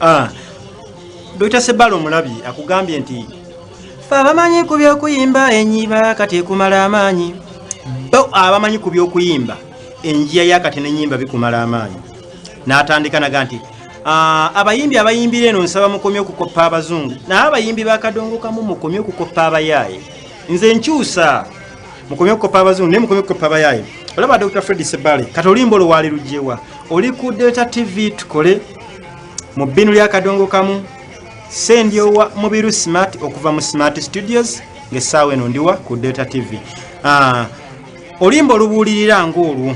Ah, Dr. Sebalo Mulabi akugambye nti fe abamanyi ku by'okuyimba enyiba kati ekumala amaanyi bo abamanyi ku by'okuyimba enjiya yakati n'enyimba bikumala amaanyi n'atandika naga nti Ah, abayimbi abayimbira eno nsaba mukomye okukoppa abazungu naye abayimbi bakadongokamu mukomye okukoppa abayaaye nze nkyusa mukomye okukoppa abazungu naye mukomye okukoppa abayaaye olaba dr fred sebale kati olimba oluwaali lugyewa oli ku delta tv tukole mu bbinu lyakadongokamu sendyowa mubiru smart okuva mu smart studios ngaessaawa eno ndiwa ku delta tv ah, olimba olubuulirira ngaolwo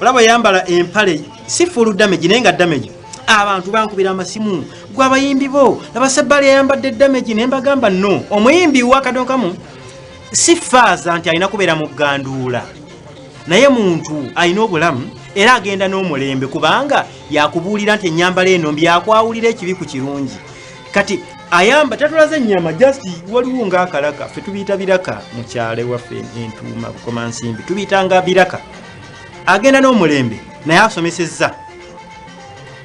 olaba yambala empale si full damage naye nga damage abantu bankubira amasimu gwe abayimbi bo nabasebbali ayambadde damage naye mbagamba no omuyimbi wakadonkamu si faaza nti alina kubeera mu ganduula naye muntu alina obulamu era agenda n'omulembe kubanga yakubuulira nti enyambala eno mbyakwawulira ekibi ku kirungi kati ayamba tatulaze enyama just waliwo ngaakalaka fe tubiyita biraka mukyale waffe entuuma bukomansimbi tubiyitanga biraka agenda n'omulembe naye asomesezza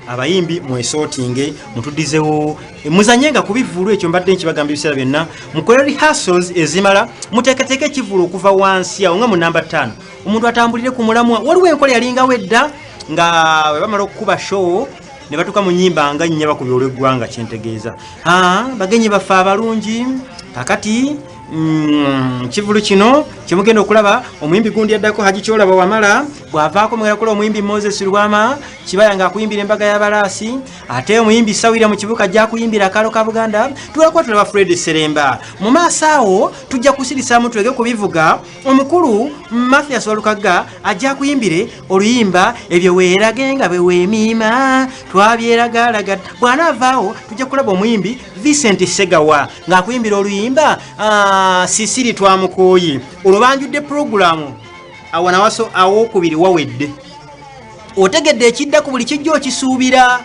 abayimbi mwesootinge mutudizewo muzanye nga ku bivulu ekyo mbadde nkibagamba ebiseera byonna mukole rehearsals ezimala muteekateeka ekivulu okuva wansi awo nga mu namba ttaano omuntu atambulire ku mulamwa waliwo enkola yalingawo edda nga bwe bamala okukuba show ne batuuka mu nyimba nga nnyaba ku byolweggwanga kyentegeeza bagenyi baffe abalungi kakati Mm, kivulu kino kyemugenda okulaba omuyimbi gundi addako haji kyolaba wamala bwavaako mugenda kula omuyimbi moses lwama kibaya nga akuyimbira embaga yabalaasi ate omuyimbi sawira mu kibuka ajja kuyimbira akaalo ka buganda tulakuba tulaba fred seremba mu maaso awo tujja kusirisamu tuleke kubivuga omukulu mathias walukagga ajja kuyimbire oluyimba ebyo weerage nga beweemiima twabyeragaalaga bwana avaawo tujja kulaba omuyimbi vincent segawa ng'akuyimbira oluyimba ah, sisiri twamukooyi olwo banjudde pulogulaamu awanawaso awokubiri wawedde otegedde ekidda ku buli kijja okisuubira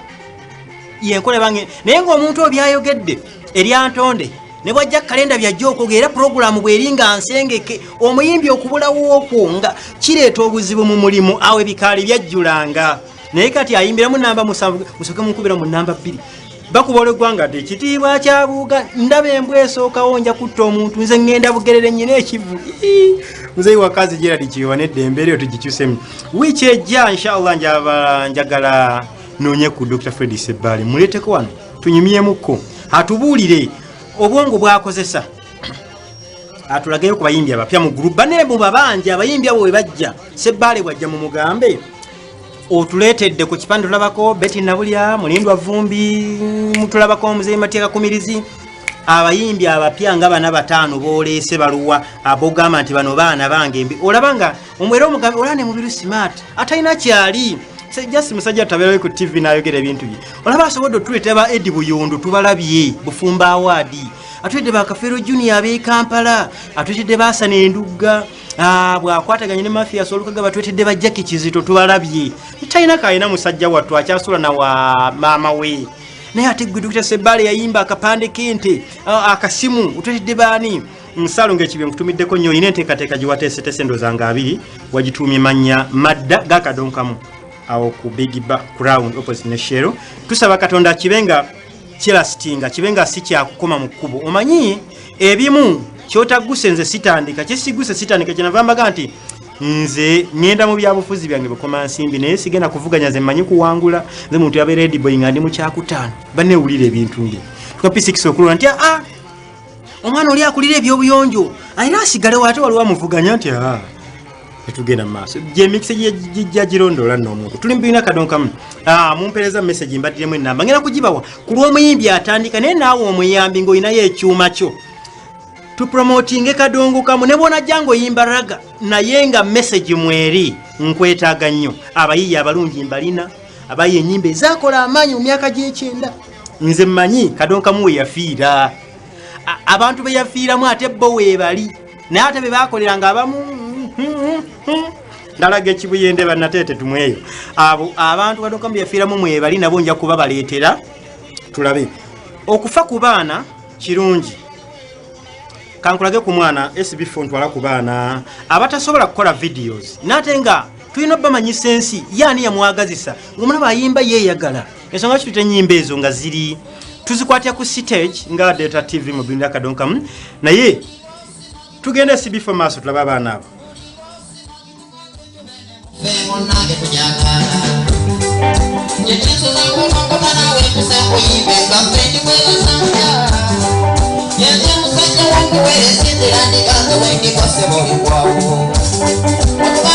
yenkola bange naye ng'omuntu obyayogedde eryantonde ne bwajja kalenda byajja okwogera era pulogulaamu bweri nga nsengeke omuyimbi okubulawo okwo nga kireeta obuzibu mu mulimu awo ebikaali byajjulanga naye kati ayimbiramu namba musanvu musoke munkubira mu namba bbiri bakuba olweggwanga ti ekitiibwa kyabuuga ndaba embwa esookawo nja kutta omuntu nze ŋŋenda bugerere nnyina ekivu muzeyi wakazi geradi kiwewa neddembe eryo tugikyusemu wiiki ejja inshallah njagala nonya ku dr fred sebbaale muleeteko wano tunyumyemukko atubuulire obwongo bwakozesa atulageyo ku bayimbi abapya mu gulupu bane mu babanja abayimbi abo we bajja sebbaale bwajja mu mugambe otuleetedde ku kipande tulabako beti nabulya mulindwa vumbi mutulabako omuzeyi mateeka kumirizi abayimbi abapya nga bana bataano boleese baluwa abogamba nti bano baana bange mbi olaba nga omwera omugambi olaba ne mubiru smart atalina kyali just musajja tabeerawe ku tv n'ayogera ebintu bye olaba asobodde otuleeta ba edi buyundu tubalabye bufumba awaadi atuledde bakafeero junior ab'e kampala atuletedde baasana endugga ah, bwakwataganye ne mafia solukaga batuletedde bajjaki kizito tubalabye talina kalina musajja wattu akyasula na wa maama we naye ate gwe dukita sebbaale yayimba akapande k'ente ah, akasimu otuletedde baani nsalo ngaekibyo nkutumiddeko nnyo olina enteekateeka gye wateesetese endooza nga abiri wagituumye mannya madda gakadonkamu awo ku bigiba crown opposite ne shero tusaba katonda kibe nga kirasitinga kibe nga si kyakukoma mu kkubo omanyi ebimu kyotaguse nze sitandika kyesiguse sitandika kyenava mbaga nti nze ngenda mu byabufuzi byange bukoma nsimbi naye sigenda kuvuganya ze mmanyi kuwangula nze muntu yabeera ediboyi nga ndi mu kyakutaano banewulira ebintu nge tukapisikisokulula nti aa ah, ah, omwana oli akulira ebyobuyonjo alina asigale waate waliwo amuvuganya nti ah, etugenda mumaaso gyemikisa gijja girondoola noomuntu tuli mubirina kadonkamu ah, mumpereza mumesagi mbaddiremu enamba ngenda kugibawa ku lw'omuyimbi atandika naye naawe omuyambi ng'olinayo ekyuma kyo tupromotinge kadongo kamu ne bwonajja ng'oyimba raga naye nga mesagi mweri nkwetaaga nnyo abayiiya abalungi mbalina abayi enyimba ezakola amaanyi mu myaka gy'ekyenda nze mmanyi kadonkamu we yafiira abantu be yafiiramu ate bo weebali naye ate be baakolera nga abamu ndalaga ekibuyende banateete tumweyo abo abantu kadonkamu be yafiiramu mwebali nabo nja kuba baleetera tulabe okufa ku baana kirungi kankulage ku mwana sbf ntwala ku baana abatasobola kukola videos naate nga tulina obamanyisa ensi ye ani yamwagazisa omulaba ayimba yeeyagala ensonga kituta enyimba ezo nga ziri tuzikwatya ku stage nga data tv mu binda kadonkamu naye tugenda sibifo maaso tulaba abaana abo Thank you.